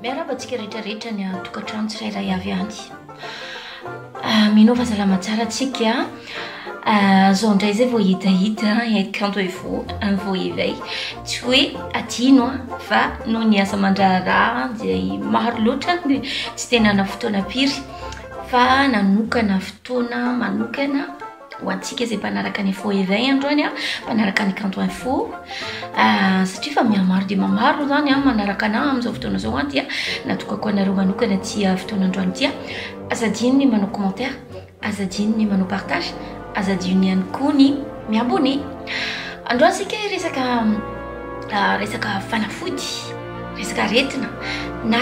Miarahaba antsika rehetra rehetra ny tokantrano tsirairay avy any. Ah, mino fa salama tsara antsika. Ah, zao indray izay vao hitahita et quand il faut un vao éveil. Tsy hoe adino ah, fa noho ny asa aman-draharaha izay maro loatra dia tsy dia nana fotoana firy fa nanokana fotoana manokana ho antsika izay mpanaraka ny info iray androany a mpanaraka ny kanto info satria fa mihamaro dia mamaro zany a manaraka anah amin'izao fotoana izao a dia natokako anareo manokana tsy fotoana androany dia azadino ny manao commentaire azadino ny manao partage azadino ihany koa ny miabone androany sika resaka resaka fanafody resaka aretina na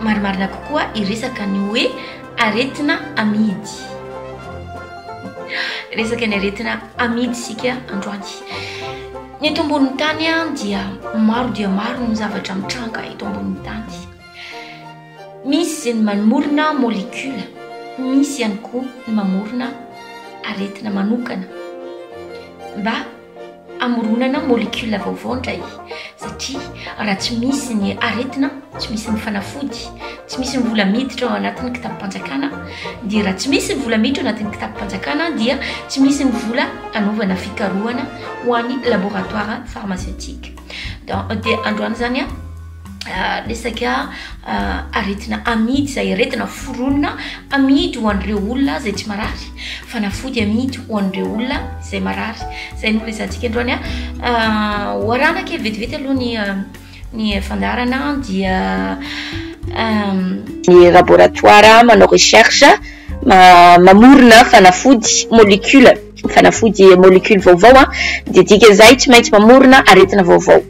marimarina kokoa iresaka ny hoe Aretina amidy. Resaka ny aretina amidy isika androany. Ny eto ambonin'ny tany dia maro dia maro ny zavatra mitranga eto ambonin'ny tany. Misy izay ny mamorona molécule, misy ihany koa ny mamorona aretina manokana mba Hamoronana molecule vaovao indray satria raha tsy misy ny aretina, tsy misy ny fanafody, tsy misy ny vola miditra ao anatin'ny kitabim-panjakana dia raha tsy misy ny vola miditra ao anatin'ny kitabim-panjakana dia tsy misy ny vola hanaovana fikarohana ho an'ny laboratoire pharmaceutique. Donc dia androany zany a resaka aretina amidy izay aretina foronina amidy ho an'ireo olona izay tsy marary fanafody amidy ho an'ireo olona izay marary izay no resantsika androany a hoarana kely vetivety aloha ny ny fandarana dia ny laboratoire manao recherche mamorona fanafody molecule Fanafody molecule vaovao dia dikan'izay tsy maintsy mamorona aretina vaovao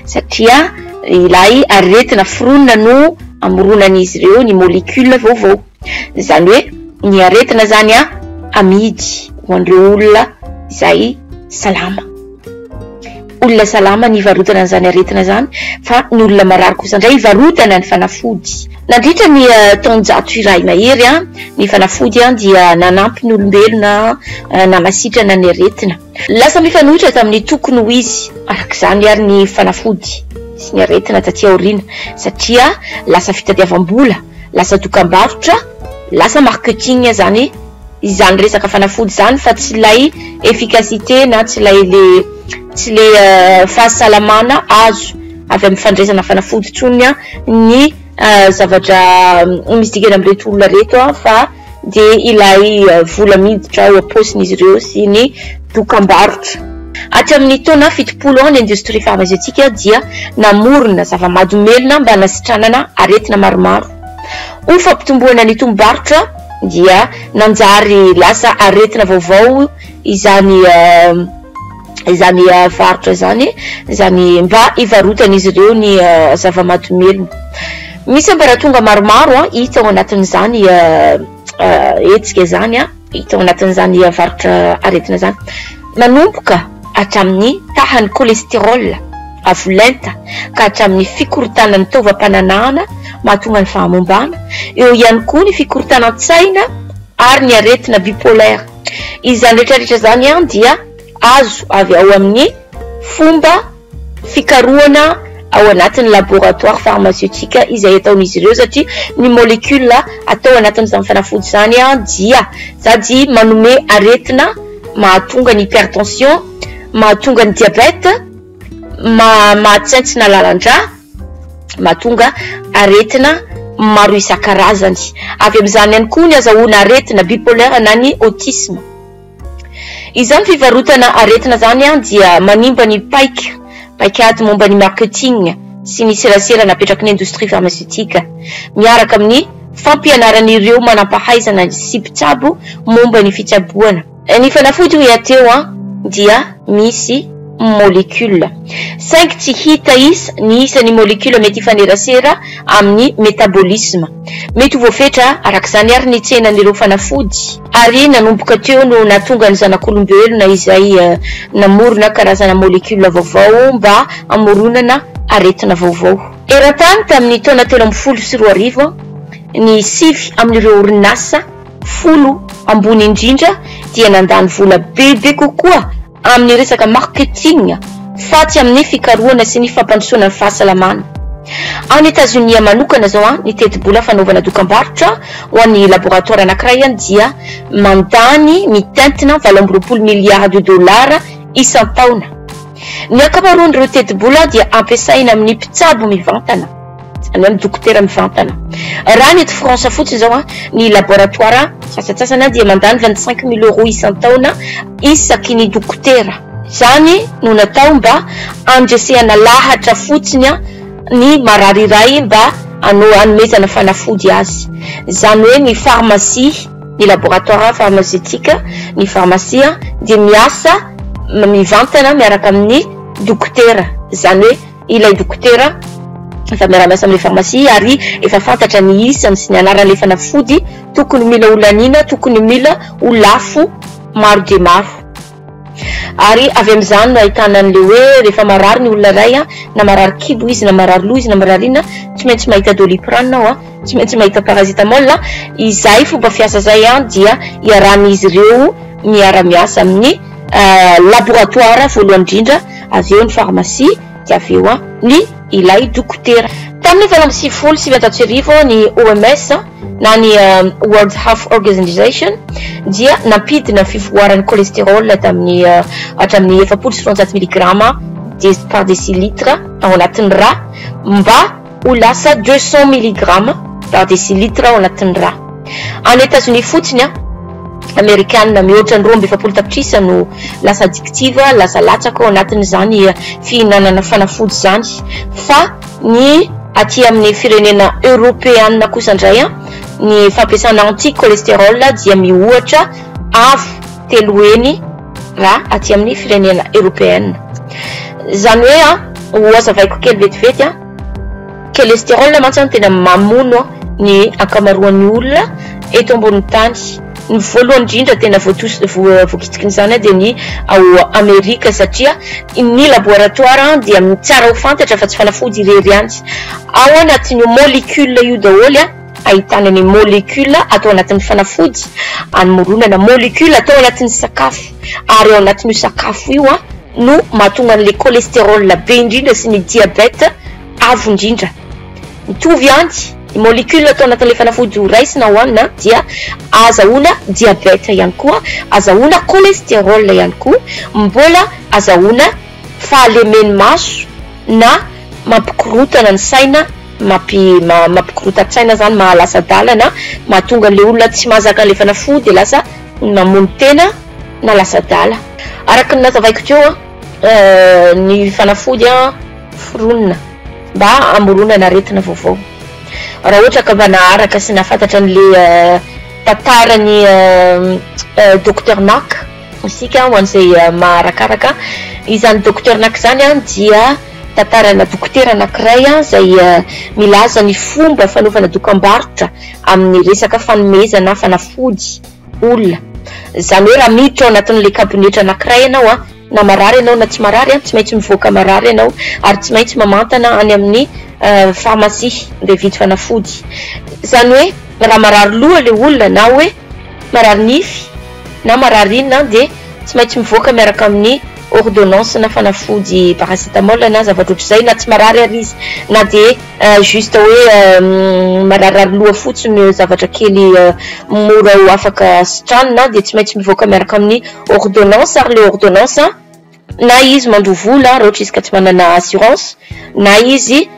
satria ilay aretina foronina no amoronan'izy ireo ny molecule vaovao. Izany hoe ny aretina izany amidy ho an'ireo olona izay salama. olona salama ny hivarotana an'izany aretina izany fa ny olona marary kosa indray hivarotana ny fanafody. Nandritra ny taonjato iray mahery, ny fanafody dia nanampy ny olombelona namasitrana ny aretina. Lasa mifanohitra tamin'ny tokony ho izy araka izany àry ny fanafody sy ny aretina tatỳ aoriana, satria lasa fitadiavam-bola, lasa dokam-barotra, lasa marketing izany. izany resaka fanafody izany fa tsy ilay efficacité na tsy ilay le tsy le euh, fahasalamana azo avy amin'ny fandraisana fanafody tsony a ny euh, zavatra euh, misy dikany amin'ireto olona reto a fa de ilay vola miditra ao am-paosin'izy ireo sy ny dokambarotra aty amin'ny taona fitopolo ao ny industrie farmaceutique dia namorona zava-madomelona mba nasitranana aretina maromaro ho fampitomboana ny tombobarotra dia nanjary lasa aretina vaovao izany izany varotra izany izany mba hivarotan'izy ireo ny zava-mahadomelina misy ambaratonga maromaro a hita ao anatin'izany hetsika izany a hita ao anatin'izany varotra aretina izany nanomboka hatramin'ny tahan'ny cholestérol avo lenta ka hatramin'ny fikorontanan'ny taovam-pananahana mahatonga ny fahamombana, eo ihany koa ny fikorontanan-tsaina ary ny aretina bipolaire. Izany rehetrarehetra izany dia azo avy ao amin'ny fomba fikarohana ao anatin'ny laboratoire pharmaceutique izay ataon'izy ireo satria ny molecule atao anatin'izany fanafody izany dia sady manome aretina mahatonga ny hypertension, mahatonga ny diabète, mahatsentsina lalan-drà, mahatonga aretina maro isan-karazany. Avy amin'izany ihany koa ny azahoana aretina bipolaire na ny autisme. Izany fivarotana aretina izany dia manimba ny paika. paikady momba ny marketing sy ny serasera napetraky ny indostria farmaseutika, miaraka amin'ny fampianaran'ireo manam-pahaizana sy mpitsabo momba ny fitsaboana. Ny fanafody hoy aho teo dia misy molecule, saingy tsy hita isa ny isan'ny molecule mety hifanerasera amin'ny metabolisme. Mety ho voafetra araka izany àry ny tsenan'ireo fanafody. Ary nanomboka teo no nahatonga ny zanak'olombelona izay namorona karazana molecule vaovao mba hamoronana aretina vaovao. Eran-tany tamin'ny taona telo ambin'ny folo sy roa arivo, ny sivy amin'ireo orinasa folo ambony indrindra dia nandany vola bebe kokoa amin'ny resaka marketing fa tsy amin'ny fikarohana sy ny fampandrosoana ny fahasalamana. Any Etazonia manokana izao, ny tetibola fanaovana dokam-barotra ho an'ny laboratoara anankiray dia mandany mitentina valo amby roapolo miliardy dolara isan-taona. Ny ankamaroan'ireo tetibola dia ampiasaina amin'ny mpitsabo mivantana. Izany hoe ny dokotera mivantana. Raha ny eto France fotsiny izao an, ny laboratoire sasantsasany an dia mandany vingt cinq mille euros isan-taona isaky ny dokotera. Izany no natao mba handresehana lahatra fotsiny an ny marary iray mba hanao hanomezana fanafody azy. Izany hoe ny farmasia, ny laboratoire farmaceutique, ny farmasia dia miasa mivantana miaraka amin'ny dokotera. Izany hoe. ilay dokotera efa miara-miasa amin'ilay farmasia ary efa fantatra ny isany sy ny anaran'ilay fanafody tokony mila holaniana, tokony mila ho lafo maro dia maro. Ary avy amin'izany no ahitana an'ilay hoe rehefa marary ny olona iray an, na marary kibo izy, na marary loha izy, na marary inona, tsy maintsy mahita doliprane aho an, tsy maintsy mahita paracetamol an, izay fomba fiasa izay an dia iarahan'izy ireo miara-miasa amin'ny. laboratoara voalohany indrindra, avy eo ny farmasia, dia avy eo ny ilay dokotera. Tamin'ny valo amby sivifolo sy sivinjato sy arivo, ny OMS na ny World Health Organization dia nampidina ny fivoaran'ny cholesterol tamin'ny hatramin'ny efapolo sy roanjato miligrama par decilitre ao anatin'ny ra mba ho lasa deux cents milligrammes par décilitre ao anatin'ny rà. Any Etazonia fotsiny, Amerikana mihoatra ny roa amby efapolo tapitrisa no lasa addictive, lasa latsaka ao anatin'izany fihinanana fanafody izany, fa ny aty amin'ny firenena Eoropeana kosa indray, ny fampiasana anti-cholestérol dia mihoatra avo telo heny na aty amin'ny firenena eropeana. Izany hoe a, ho hazavaiko kely vetivety a, cholestérol mantsy no tena mamono ny ankamaroan'ny olona eto ambonin'ny tany. Ny voalohany indrindra tena voatos- voa- voakitsiky izany dia ny ao Amerika satria ny laboratoara dia tsara ho fantatra fa tsy fanafody irery ihany. Ao anatin'io molecule io daholo a, Ahitana ny molecule atao anatin'ny fanafody, anmoronana molecule atao anatin'ny sakafo, ary ao anatin'io sakafo io no mahatonga an'ilay cholestérol be indrindra sy ny diabète avo indrindra. Mitovy ihany, ny molecule atao anatin'ilay fanafody ho raisina hohanina dia ahazahoana diabète ihany koa, ahazahoana cholestérol ihany koa, mbola ahazahoana. fahalemeny maso na mampikorotana ny saina mampi mampikorotan-tsaina zany mahalasadalana mahatonga an'le olona tsy mahazaka an'le fanafody de lasa mamono tena na lasadala araka ny nazavaiko teo an ny fanafody an foronina mba hamoronana aretina vaovao raha ohatra ka mba naharaka sy nahafantatra an'le tantaran'i docteur Mack. Isika ho an'izay maharakaraka izany docteur nak izany dia tantarana dokotera anankiray izay milaza ny fomba fanaovana dokambarotra amin'ny resaka fanomezana fanafody olona. Izany hoe raha miditra ao anatin'ilay kabonetra anankiray ianao na marary ianao na tsy marary tsy maintsy mivoaka marary ianao ary tsy maintsy mamantana any amin'ny pharmacie mba hividy fanafody. Izany hoe raha marary loha ilay olona na hoe marary nify. na marary inona dia tsy maintsy mivoaka miaraka amin'ny ordonnance na fanafody paracetamol na zavatra ohatr'izay na tsy marary ary izy na dia juste hoe mararirary loha fotsiny zavatra kely mora ho afaka sitranina dia tsy maintsy mivoaka miaraka amin'ny ordonnance ary le ordonnance Na izy mandoa vola raha ohatra izy ka tsy manana assurance, na izy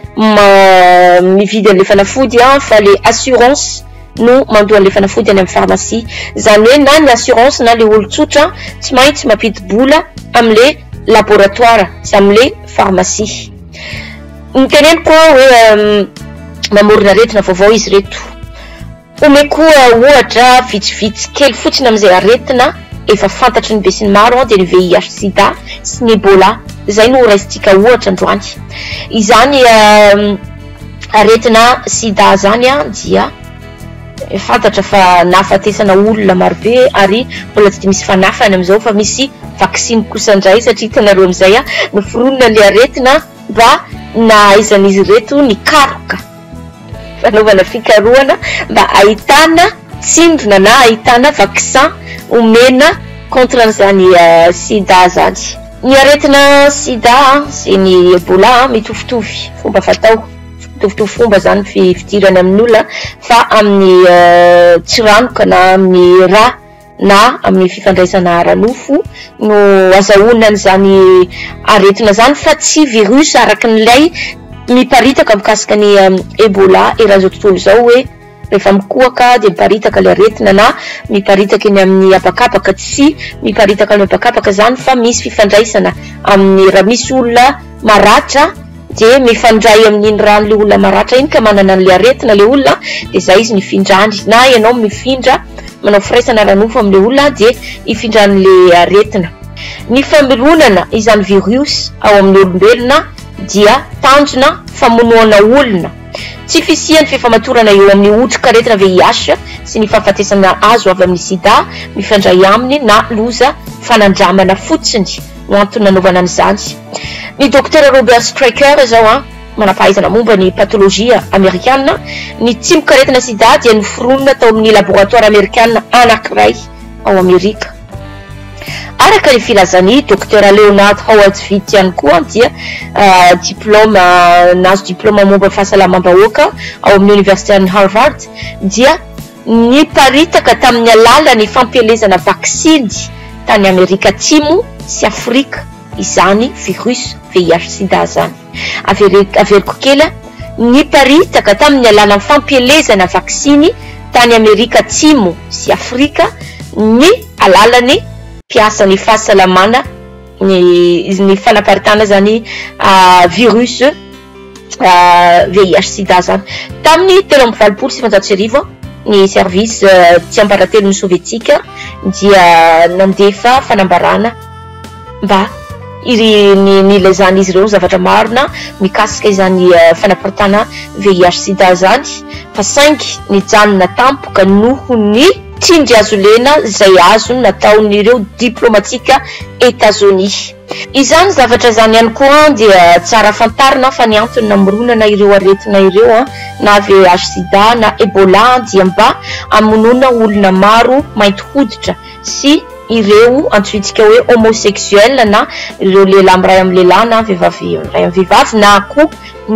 mividy an'ilay fanafody fa ilay assurance no mandoa an'ilay fanafody any amin'ny pharmacie. Izany hoe na ny assurance na ilay olon-tsotra tsy maintsy mampidi-bola amin'ilay laboratoire sy amin'ilay pharmacie. Ny teneniko hoe mamorona aretina vaovao izy ireto. Omeko ohatra vitsivitsy kely fotsiny amin'izay aretina efa fantatry ny besinimaro dia ny VIH sida sy ny Ebola izay no horaisintsika ohatra androany. Izany aretina sida izany dia fantatra fa nahafatesana olona marobe ary mbola tsy dia misy fanafany amin'izao fa misy vaksiny kosa indray satria hitanareo amin'izay noforonina ilay aretina mba nahaizan'izy ireto nikaroka. fanaovana fikarohana mba ahitana tsindrona na ahitana vaccin omena contre an'izany sida izany. Ny aretina sida sy ny ebola mitovitovy fomba fatao, mitovitovy fomba izany ny fidirany amin'ny olona fa amin'ny tsiranoka na amin'ny rà. na amin'ny fifandraisana ara-nofo no azahoana an'izany aretina izany fa tsy virus araka an'ilay miparitaka mikasika ny Ebola eran'izao tontolo izao hoe rehefa mikohaka dia miparitaka ilay aretina na miparitaka eny amin'ny habakabaka, tsy miparitaka amin'ny habakabaka izany fa misy fifandraisana amin'ny raha misy olona maratra dia mifandray amin'iny rano le olona maratra iny ka manana an'le aretina le olona dia zay izy nifindrany na ianao mifindra manao firaisana ara-nofo amin'le olona dia hifindran'le aretina ny fameronana izany virus ao amin'ny olombelona dia tanjona famonoana olona tsy fisian'ny fifamatorana eo amin'ny otrikaretina VIH sy ny fahafatesana azo avy amin'ny sida mifandray aminy na loza fanandramana fotsiny no antony nanaovana an'izany. Ny Dokotera Robert Strecker izao an, manampahaizana momba ny patolojia amerikana, ny tsimokaretina sida dia noforonina tao amin'ny laboratoara amerikana anankiray ao Amerika. Araka ny filazan'i Dokotera Leonard Howard Vitt ihany koa dia uh, diploma nazo diploma momba fahasalamam-bahoaka ao amin'ny Oniversiten'i Harvard dia Niparitaka tamin'ny alalan'ny fampielezana vaksiny tany Amerika Atsimo sy Afrika izany virus VIH-sida izany. Averiko kely an! Niparitaka tamin'ny alalan'ny fampielezana vaksiny tany Amerika Atsimo sy Afrika ny alalan'ny mpiasan'ny fahasalamana ny fanaparitahana izany virus. VIH-sida izany. Tamin'ny telo amby valopolo sy sivinjato sy arivo, ny Service Tsiambaratelon'ny Sovietika dia nandefa fanambarana mba nilazan'izy ireo zavatra marina mikasika izany fanaparitahana VIH-sida izany fa saingy nijanona tampoka noho ny tsindrihazolena izay azony nataon'ireo diplaomatika Etazonia. Izany zavatra izany ihany koa dia tsara fantarina fa ny antony namoronana ireo aretina ireo na VIH-Sida na Ebola dia mba hamonoana olona maro mainty hoditra sy ireo antsointsika hoe homosexuel na ireo lehilahy miray amin'ny lehilahy na vehivavy miray amin'ny vehivavy na koa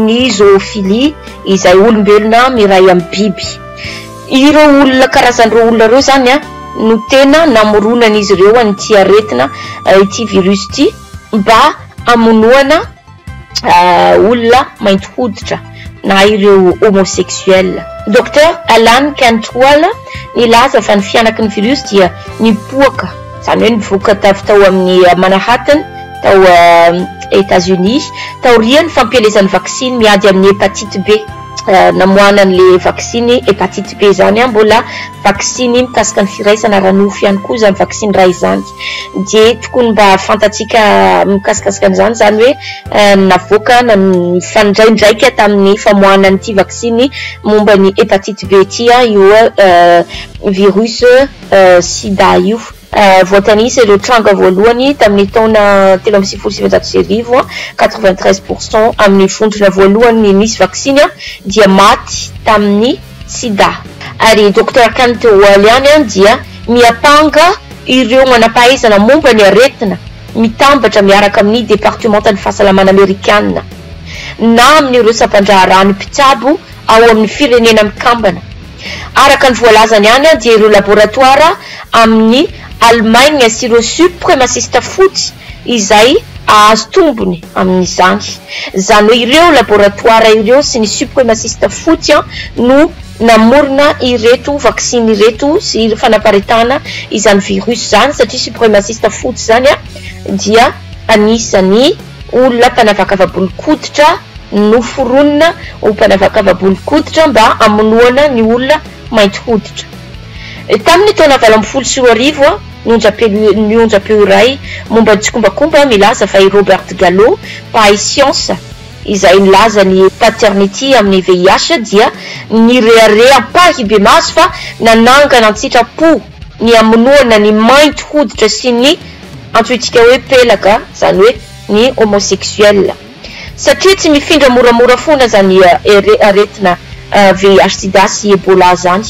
ny zoophilie izay olombelona miray amin'ny biby. Ireo olona karazan'ireo olona ireo izany no tena namoronan'izy ireo an'ity aretina, ity virus ity mba hamonoana olona mainty hoditra na ireo homosexuels. Docteur Alan Cantwell nilaza fa ny fihanaky ny virus dia nipoaka, izany hoe nivoaka avy tao amin'ny Manhattan tao Etats-Unis, taorian'ny fampielezan'ny vaksiny miady amin'ny hepatite B. namoahana an'ilay vaksiny hepatite B izany an, mbola vaksiny mikasika ny firaisana ara-nofo ihany koa izany vaksiny iray izany, dia tokony mba fantatsika mikasikasika an'izany izany hoe navoaka na mifandraindraika tamin'ny famoahana an'ity vaksiny momba ny hepatite B ity io virus sida io. Voatanisa ireo tranga voalohany tamin'ny taona telo amby sivifolo sy sivinjato sy arivo, quatre-vingt-treize pour cent amin'ny vondrona voalohany nisy vaksiny dia maty tamin'ny sida. Ary i Docteur Khan teo ho ela ihany dia miampanga ireo manam-pahaizana momba ny aretina mitambatra miaraka amin'ny Departemantan'ny Fahasalamana Amerikana na amin'ireo sampan-draharahan'ny mpitsabo ao amin'ny Firenena Mikambana. Araka ny voalazany ihany dia ireo laboratoara amin'i Allemagne sy ireo supremasista fotsy izay hahazo tombony amin'izany. Izany hoe ireo laboratoara ireo sy ny supremasista fotsy no namorona ireto vaksiny ireto sy fanaparitahana izany virus izany satria supremasista fotsy izany dia anisan'ny Olona mpanavakava-bolon-koditra noforonina ho mpanavakava-bolon-koditra mba hamonoana ny olona mainty hoditra. Tamin' ny taona valo ambin'ny folo sy roa arivo, ny onjam-peo iray momba ny tsikombakomba milaza fa i Robert Gallo, mpahay siansa izay nilaza ny Paternity amin' ny VIH, dia nirehareha am-pahibemaso fa nanangana an-tsitrapo ny hamonoana ny mainty hoditra sy ny antsointsika hoe pelaka zany hoe ny homosexuel satria tsy mifindra moramora fona zany aretina VIH sida sy Ebola zany.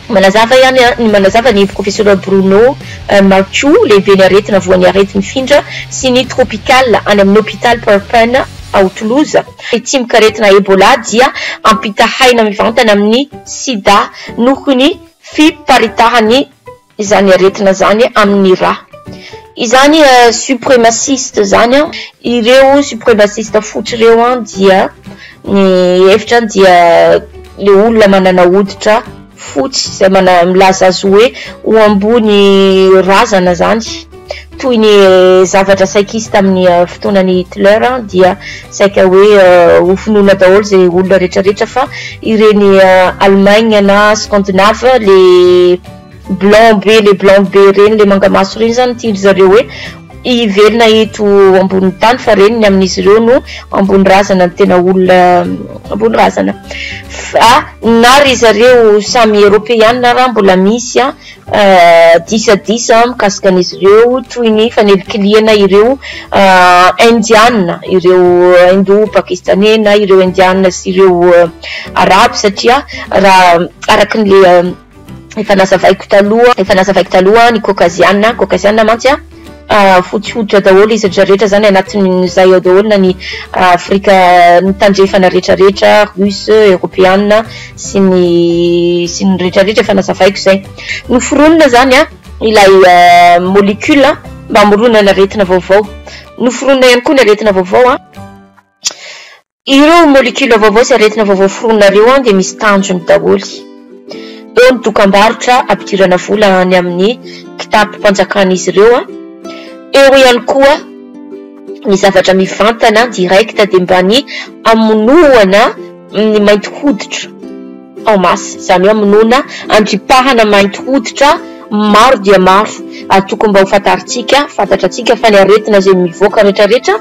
Manazava ihany ny manazava ny heviko Fisoral Bruno Marco lehiben'ny aretina voan'ny arety mifindra sy ny tropical any amin'ny hopitaly Purpen ao Toulouse ny tsimokaretina Ebola dia ampitahaina mivantana amin'ny sida noho ny fiparitahan'ny izany aretina izany amin'ny ra izany supremaciste izany an ireo supremaciste fotsy ireo an dia ny hevitra an dia le olona manana hoditra fotsy izay milaza azy hoe ho ambony razana izany toy ny zavatra saikisy tamin'ny fotoanan'i Hitler dia saika hoe ho fonoina daholo izay olona retraretra fa ireny Allemagne na Scandinave le blanc be le blanc be ireny le mangamaso ireny zany tian-dry zareo hoe hivelona eto ambonin'ny tany fa ireny ny amin'izy ireo no ambony razana ny tena olona ambony razana fa na ry zareo samy Eropeana raha mbola misy an Disadisa mikasika an'izy ireo toy ny fanelikilihana ireo Indiana, ireo Hindoa Pakistaney na ireo Indiana sy ireo Arabo satria raha araka an'ilay efa nazavaiko taloha, efa nazavaiko taloha ny Kaokaziana, Kaokaziana mantsy an! Fotsy hoditra daholo izy retraretra zany anatin'izay ao daholo na ny afrika ny tandrefana retraretra russe, eropeana sy ny sy ny retraretra efa nazavaiko zay. Noforonina zany ilay molecule mba hamoronana aretina vaovao. Noforonina ihany koa ny aretina vaovao an. Ireo molecules vaovao sy aretina vaovao foronina ireo an dia misy tanjony daholo. Eo ny dokambarotra ampidirana vola any amin'ny kitapom-panjakan'izy ireo an. Eo ihany koa ny zavatra mivantana direct dia mba ny hamonoana ny mainty hoditra. en masse, izany hoe amonoana andripahana mainty hoditra maro dia maro, ary tokony mba ho fantarintsika, fantatrantsika fa ny aretina izay mivoaka retraretra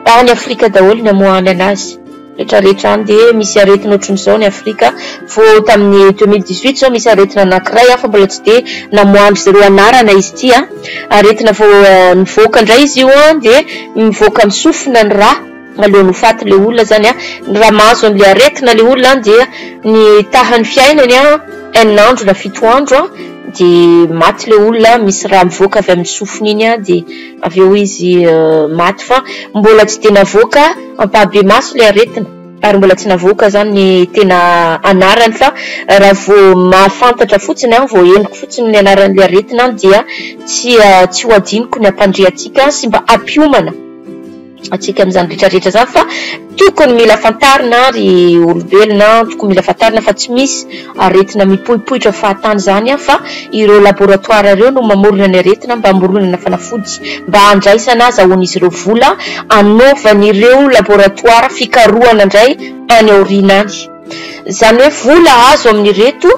any afrika daholo ny amoahany anazy, retraretra any dia misy aretina ohatrin'izao ny afrika, vao tamin'ny deux mille dix huit izao misy aretina anankiray aho fa mbola tsy dia namoahan-dry zareo anarana izy ity an, aretina vao nivoaka indray izy io an dia mivoaka amin'ny sofina ny rà. Aleony ho faty le olona zany a, raha mahazo anle aretina le olona an dia ny tahany fiainany an enina andro na fito andro an de maty le olona an, misy raha mivoaka avy amin'ny sofiny iny an de avy eo izy maty fa mbola tsy dia navoaka ampahibemaso le aretina, ary mbola tsy navoaka zany ny tena anarany fa raha vao mahafantatra fotsiny an, vao henoko fotsiny ny anaran'le aretina an dia tsy tsy ho adinoko ny hampandre antsika sy mba hampiomana. antsika amin'izany rehetra rehetra izany fa tokony mila fantarina ary olombelona tokony mila fantarina fa tsy misy aretina mipoipoitra fahatany izany an fa ireo laboratoire ireo no mamorona ny aretina mba hamoronana fanafody mba handraisana azahoan'izy ireo vola anaovan'ireo laboratoire fikarohana indray any aoriana any izany hoe vola azo amin'ireto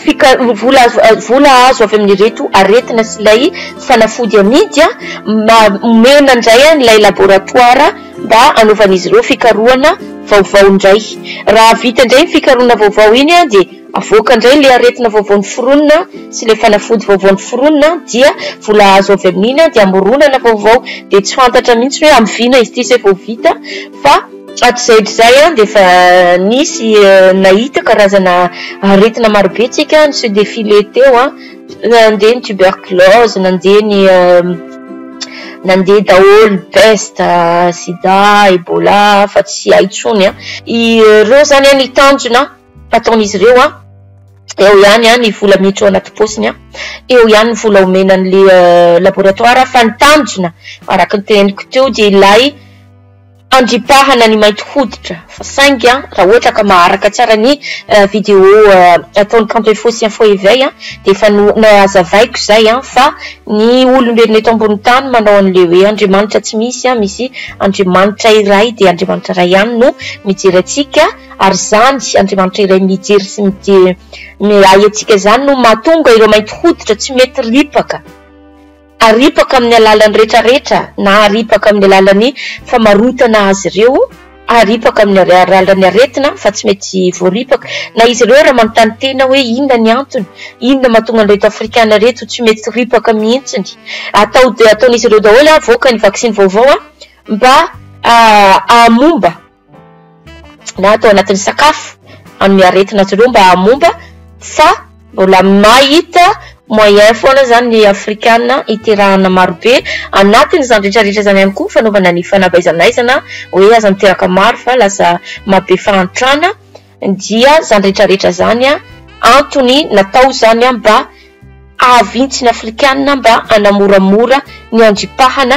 Fika- vola azo a- vola azo avy amin'ireto aretina sy ilay fanafody amidy a, ma- omena indray an'ilay laboratoara mba hanaovan'izy ireo fikarohana vaovao indray. Raha vita indray iny fikarohana vaovao iny a, dia avoaka indray ilay aretina vaovao noforonina sy ilay fanafody vaovao noforonina a, dia vola azo avy amin'iny a, dia amoronana vaovao. Dia tsy fantatra mihitsy hoe amin'ny vina izy ity izay vao vita fa. Hatrizaihatrizay dia efa nisy nahita karazana aretina maro be isika niseho défilé teo, nandeha ny tuberculose, nandeha ny nandeha daholo peste, sida, ebola fa tsy hay intsony. Ireo izany ny tanjona ataon'izy ireo, eo ihany ny vola miditra ao anaty paosiny, eo ihany ny vola omena an'ilay laboratoire fa ny tanjona araka ny teneniko teo dia ilay. Andripahana ny mainty hoditra fa saingy raha ohatra ka maharaka tsara ny video ataon'i Kanto Info sy Info Eveil dia efa nohazavaiko izay fa ny olombelona eto ambony tany manao an'ilay hoe Andriamanitra tsy misy, misy Andriamanitra iray dia Andriamanitra iray ihany no mijery antsika ary izany Andriamanitra iray mijery sy mijery ahy antsika izany no mahatonga ireo mainty hoditra tsy mety ripaka. Aripaka amin'ny alalan'ny retraretra na aripaka amin'ny alalan'ny famarotana azy ireo, aripaka amin'ny alalan'ny aretina fa tsy mety voaripaka na izy ireo raha manontany tena hoe inona ny antony, inona mahatonga an'ireto afrikana ireto tsy mety ripaka mihitsy ny atao dia ataon'izy ireo daholo avoaka ny vaksiny vaovao mba hahamomba na atao anatin'ny sakafo amin'ny aretina azy ireo mba hamomba fa mbola mahita moyen foana izany ny afrikana hiterahana marobe anatin'izany rehetrarehetra izany ihany koa fanaovana ny fanabaizanaizana hoe aza miteraka maro fa lasa mahabe fahantrana Dia zany retraretra zany a antony natao zany a mba ahavintsy ny afrikana mba anamoramora ny andripahana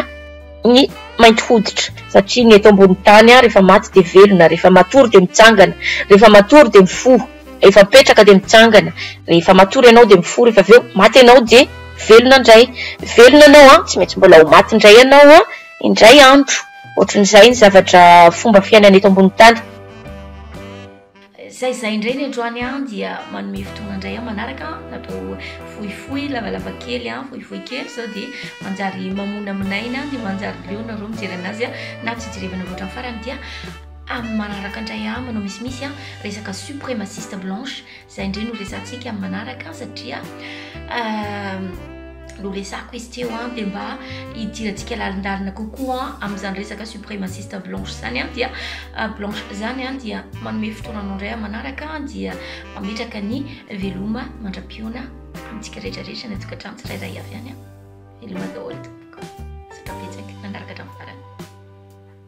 ny mainty hoditra satria ny eto ambony tany a refa maty de velona refa matory de mitsangana refa matory de mifoha refa mipetraka de mitsangana refa matory anao de mifoha refa aveo maty anao de velona ndray velona anao a tsy maintsy mbola ho maty ndray anao a indray andro otrin'izay ny zavatra fomba fiainana eto ambony tany Zay zay indray ny androany an dia manome fotoana indray an manaraka an natao fohifohy lavalava kely an fohifohy kely zao dia manjary mamona minaina dia manjary leo nareo mijery anazy an na tsy jerevana loatra ny farany dia amin'ny manaraka indray an manao misimisy an resaka supremaciste blanche Izay indray no resahantsika amin'ny manaraka satria no resako izy teo an dia mba hidirantsika lalindalina kokoa amin'izany resaka suprémaciste blanche izany an dia blanche izany an dia manome fotoana anao indray manaraka dia mametraka ny veloma mandra-pihaona amintsika rehetrarehetra ny tokantrano tsirairay avy any an veloma daholo tompoko satra betsaka nanaraka hatramin'ny farany